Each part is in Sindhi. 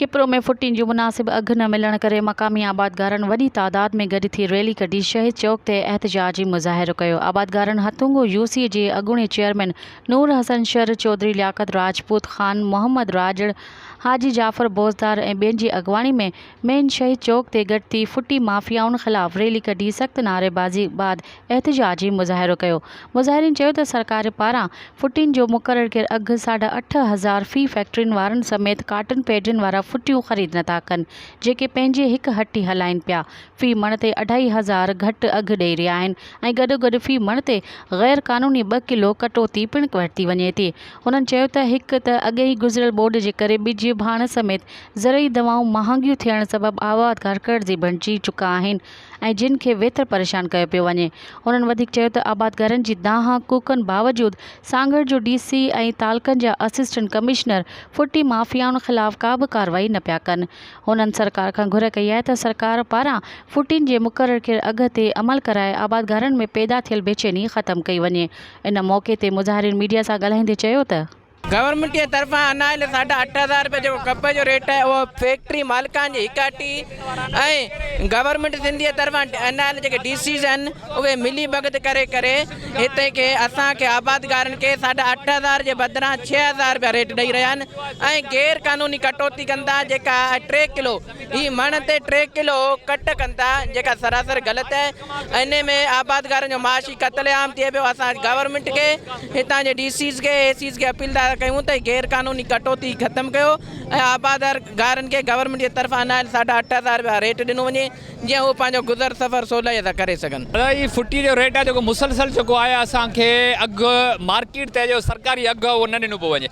کپرو ۾ ڦٽين جون مناسب اگهه نه ملڻ ڪري مقامي آبادگارن وڏي تعداد ۾ گڏ ٿي ريلي ڪڍي شهيد چوڪ تي احتجاجي مظاهرو ڪيو آبادگارن هٿونگو يو سي جي اڳوڻي چيئرمين نور حسن شر چوڌري لياقت راجپوت خان محمد راڄڙ حاجي جعفر بوزدار ۽ ٻين جي اڳواڻي ۾ مين شهيد چوڪ تي گڏ ٿي ڦٽي مافيائن خلاف ريلي ڪڍي سخت نعريبازي بعد احتجاجي مظاهرو ڪيو. مظاهرين چيو ته سرڪار پاران ڦٽين جو مقرر ڪيل اگهه ساڍا اٺ هزار في فيڪٽرين وارن سميت ڪاٽن پيڊين وارا ڦٽيون خريد نٿا ڪن جيڪي پنهنجي هڪ هٽي هلائين پيا في مڻ تي اڍائي هزار گهٽ اگهه ڏئي رهيا آهن ۽ گڏوگڏ في مڻ تي غير قانوني ٻه ڪلو ڪٽوتي پڻ ورتي وڃي ٿي هنن چيو ته هڪ ته اڳهين گذريل ٻوڏ جي ڪري ٻج ڀاڻ سميت زرعي دوائون مهانگيون ٿيڻ سبب آباد گهر قرضي بڻجي چڪا آهن ۽ جن کي ويتر پريشان ڪيو پيو وڃي. هنن وڌيڪ چيو ته آباد گهرن جي دانهن ڪوڪن باوجود سانگهڙ جو ڊي سي ۽ تعلقن جا اسسٽنٽ ڪمشنر ڦٽي مافيائن خلاف ڪابه ڪارروائي نه پيا ڪن. هنن سرڪار کان گهر ڪئي آهي ته سرڪار پاران ڦٽين جي مقرر ڪيل اگهه تي عمل ڪرائي آباد گهرن ۾ پيدا ٿيل بيچيني ختم ڪئي وڃي. ان موقعي تي مظاهرين ميڊيا سان ڳالهائيندي چيو ته. گورنمينٽ جي طرفان انايل ساڍا اٺ هزار رپيا جيڪو ڪپهه جو ريٽ آهي اهو فيڪٽري مالڪان جي هڪاٽي ۽ گورنمينٽ سنڌ جي طرفان انايل جيڪي ڊي سيز آهن اهي ملي ڀڳت ڪري ڪري هتي کي اسان کي آبادگارن کي ساڍا اٺ هزار جي بدران ڇهه هزار رپيا ريٽ ڏئي رهيا آهن ۽ غير قانوني ڪٽوتي ڪن ٿا جيڪا ٽي ڪلو هي مڻ تي ٽي ڪلو ڪٽ ڪن ٿا جيڪا سراسر غلط آهي انهي ۾ آبادگارن جو معاشي قتل عام ٿئي پيو اسان گورنمينٽ کي هتان جي ڊي سيز کي اي سيز کي اپيل ٿا ڪيون ته غير قانوني ڪٽوتي ختم ڪيو ۽ آبادگارن کي گورنمينٽ جي طرفان ناهل ساڍا اٺ هزار رپيا ريٽ ڏنو وڃي جيئن هو پنهنجو گذر سفر سولائي سان ڪري سگهن. دادا هي ڦٽي جو ريٽ آهي جيڪو مسلسل جيڪو آهي اسان کي اگهه مارڪيٽ تي جو سرڪاري اگهه آهي اهو نه ڏنو پيو وڃي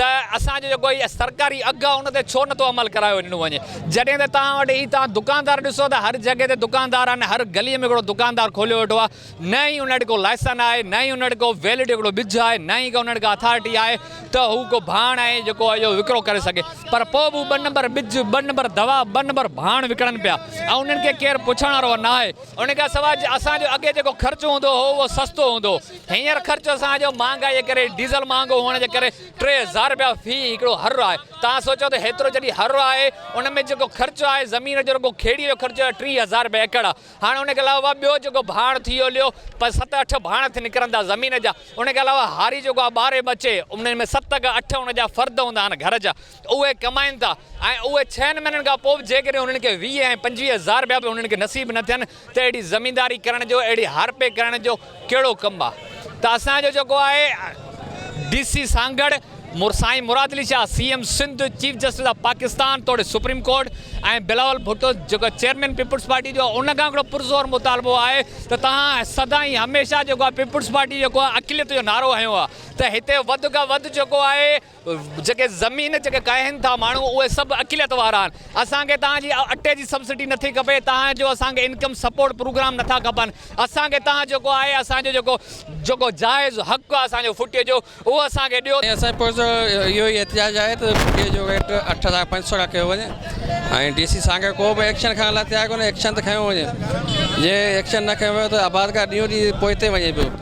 ته اسان جو جيڪو هي سرڪاري اگهه آهي ان تي ڇو نٿو عمل ڪرايو ڏنو وڃي جڏهن ته توهان وٽ هي توهان دڪاندار ڏسو ته هر جڳهه تي دڪاندار آهن هر گلي ۾ هڪڙو دڪاندار کوليو ويٺو آهي نه هي ان وٽ ڪو لائسن آهي نه هي ان وٽ ڪو ويلڊ هڪڙو ٻج آهي نه هي ان وٽ ڪا اٿارٽي آهي ته هو ڪو ڀاڻ ۽ جيڪو اهو وڪرو ڪري سگهي پر پوء به هو ٻه نمبر ٻج ٻه نمبر دوا ٻه نمبر ڀاڻ وڪڻن پيا ۽ انهن کي ڪير پڇڻ وارو ناهي ان کان سواء اسان جو اڳي جيڪو خرچ هوندو هو اهو سستو هوندو هو هينئر خرچ سان جو مهانگائي ڪري ڊيزل مهانگو هئڻ جي ڪري ٽي هزار رپيا في هڪڙو هر آهي توهان سوچيو ته هيترو جڏهن هر آهي ان ۾ جيڪو خرچ آهي زمين جو رڳو کيڙي جو خرچ آهي ٽي هزار رپيا ايڪڙ آهي هاڻ ان کي علاوه ٻيو جيڪو ڀاڻ ٿي ويو ليو پنج ست اٺ ڀاڻ ٿي نڪرن ٿا زمين جا ان کي علاوه هاري جيڪو آهي ٻاري ٻچي انهن ۾ ست کان اٺ ان جا فرد هوندا آهن گهر جا اهي ڪمائين ٿا ۽ اهي ڇهن مهينن کان پوء به جيڪڏهن انهن کي ويهه ۽ پنجويهه هزار رپيا به انهن کي نصيب نه ٿين ته اهڙي زمينداري ڪرڻ جو اهڙي هارپي ڪرڻ جو ڪهڙو ڪم آ ته اسان جو جيڪو آهي ڊي سي سانگهڙ سائين Murad Ali Shah C M Sindh chief justice of Pakistan توڙي سپريم ڪورٽ ۽ بلاول ڀٽو جيڪو چيئرمين پيپلز پارٽي جو آهي ان کان هڪڙو پرزور مطالبو آهي ته توهان سدائين هميشه جيڪو آهي پيپلز پارٽي جيڪو آهي اقليت جو نعرو هنيو آ ته هتي وڌ کان وڌ جيڪو آهي جيڪي زمين جيڪي ڪاهين ٿا ماڻهو اهي سڀ اقليت وارا آهن اسان کي توهان جي اٽي جي سبسڊي نٿي کپي توهان جو اسان کي انڪم سپورٽ پروگرام نٿا کپن اسان کي توهان جيڪو آهي اسان جو جيڪو جيڪو جائز حق آهي اسان جو ڦٽي جو اهو اسان کي ڏيو ۽ اسان پرزور اهو ئي احتجاج آهي ته ڦٽي جو ريٽ اٺ هزار پنج سؤ کان ڪيو وڃي ۽ ڊي سي سانگهڙ ڪو به ايڪشن کڻڻ لاء تيار ڪونهي ايڪشن ته کنيو وڃي جي ايڪشن نه کنيو ويو ته آبادگار ڏينهون ڏينهن پوئتي وڃي پيو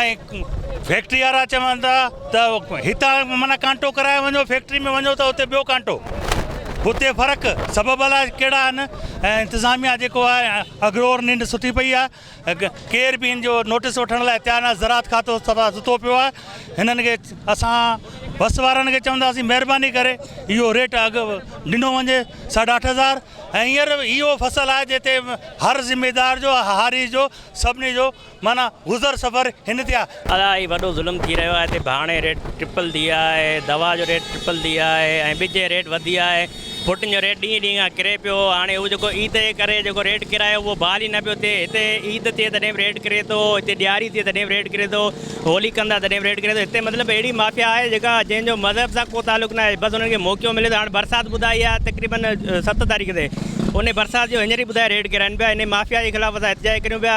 ۽ فيڪٽري وارا چون ٿا ته هتان معنيٰ ڪانٽو ڪرائي وڃو فيڪٽري ۾ وڃو ته اتي ٻيو ڪانٽو اتي فرق سبب الاء ڪهڙا آهن ۽ انتظاميا جيڪو آهي اگرور ننڊ سٺي پئي آهي ڪير به ان جو نوٽس وٺڻ لاء تيار نه زراعت کاتو سدا ستو پيو آهي هنن کي اسان بس وارن کي چونداسين مهرباني ڪري اهو ريٽ اگھ ڏنو وڃي ساڍا اٺ هزار ۽ هينئر اهو فصل آهي جتي هر ذميدار جو هاري جو سڀني جو معنيٰ گذر سفر هن تي آ. ادا هي وڏو ظلم ٿي رهيو آهي تي ڀاڻي ريٽ ٽرپل ٿي ويا آهي دوا جو ريٽ ٽرپل ٿي ويا آهي ۽ ٻج جي ريٽ وڌي ويا آهي ڦٽن جو ريٽ ڏينهن ڏينهن کان ڪري پيو هاڻي هو جيڪو عيد جي ڪري جيڪو ريٽ ڪرايو اهو بحال ئي نه پيو ٿئي هتي عيد ٿئي تڏهن به ريٽ ڪري ٿو هتي ڏياري ٿئي تڏهن به ريٽ ڪري ٿو هولي ڪندا تڏهن به ريٽ ڪري ٿو هتي مطلب اهڙي مافيا آهي جيڪا جنهن جو مذهب سان ڪو تعلق ناهي بس انهن کي موقعو ملي ٿو هاڻي برسات ٻڌائي آهي تقريبن ست تاريخ تي انهي برسات جو هينئر ئي ٻڌائي ريٽ ڪراين پيا انهي مافيا جي خلاف اسان احتجاج ڪريون پيا.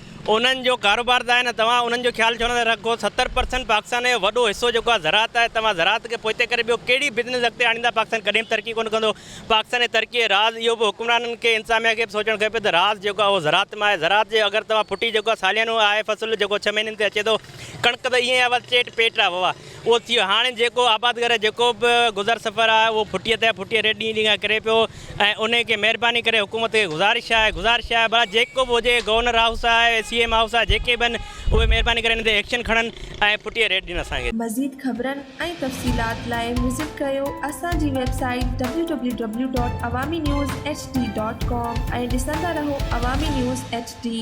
انهن جو ڪاروبار ته آهي نه توهان انهن جو خيال ڇو نه ٿا رکو ستر پرسنٽ پاڪستان جو وڏو حصو جيڪو آهي زراعت آهي توهان زراعت کي پوئتي ڪري ٻيو ڪهڙي بزنس اڳتي آڻيندا پاڪستان ڪڏهن به ترقي ڪونه ڪندو پاڪستان جي ترقي جو راز اهو به حڪمرانن کي انتظاميا کي به سوچڻ کپي ته راز جيڪو آهي اهو زراعت مان آهي زراعت جي اگر توهان ڦٽي جيڪو آهي ساليانو آهي فصل جيڪو ڇهه مهينن تي اچي ٿو ڪڻڪ ته ائين آهي بس چيٽ پيٽ آهي ووا. اهو ٿي ويو هاڻي جيڪو آبادگار جيڪو به گذر سفر آهي اهو ڦٽي تي ڦٽي ريٽ ڏينهن ڏينهن کان ڪري پيو ۽ انهي کي مهرباني ڪري حڪومت کي گذارش آهي گذارش آهي ڀلا جيڪو به هجي گورنر هائوس آهي سي ايم هائوس آهي جيڪي به آهن اهي مهرباني ڪري انهي تي ايڪشن کڻن ۽ ڦٽي ريٽ ڏين اسان کي. مزيد خبرن ۽ تفصيلات لاء وزٽ ڪريو اسان جي website W W W dot Awami news H D dot com ۽ ڏسندا رهو عوامي نيوز ايڇ ڊي.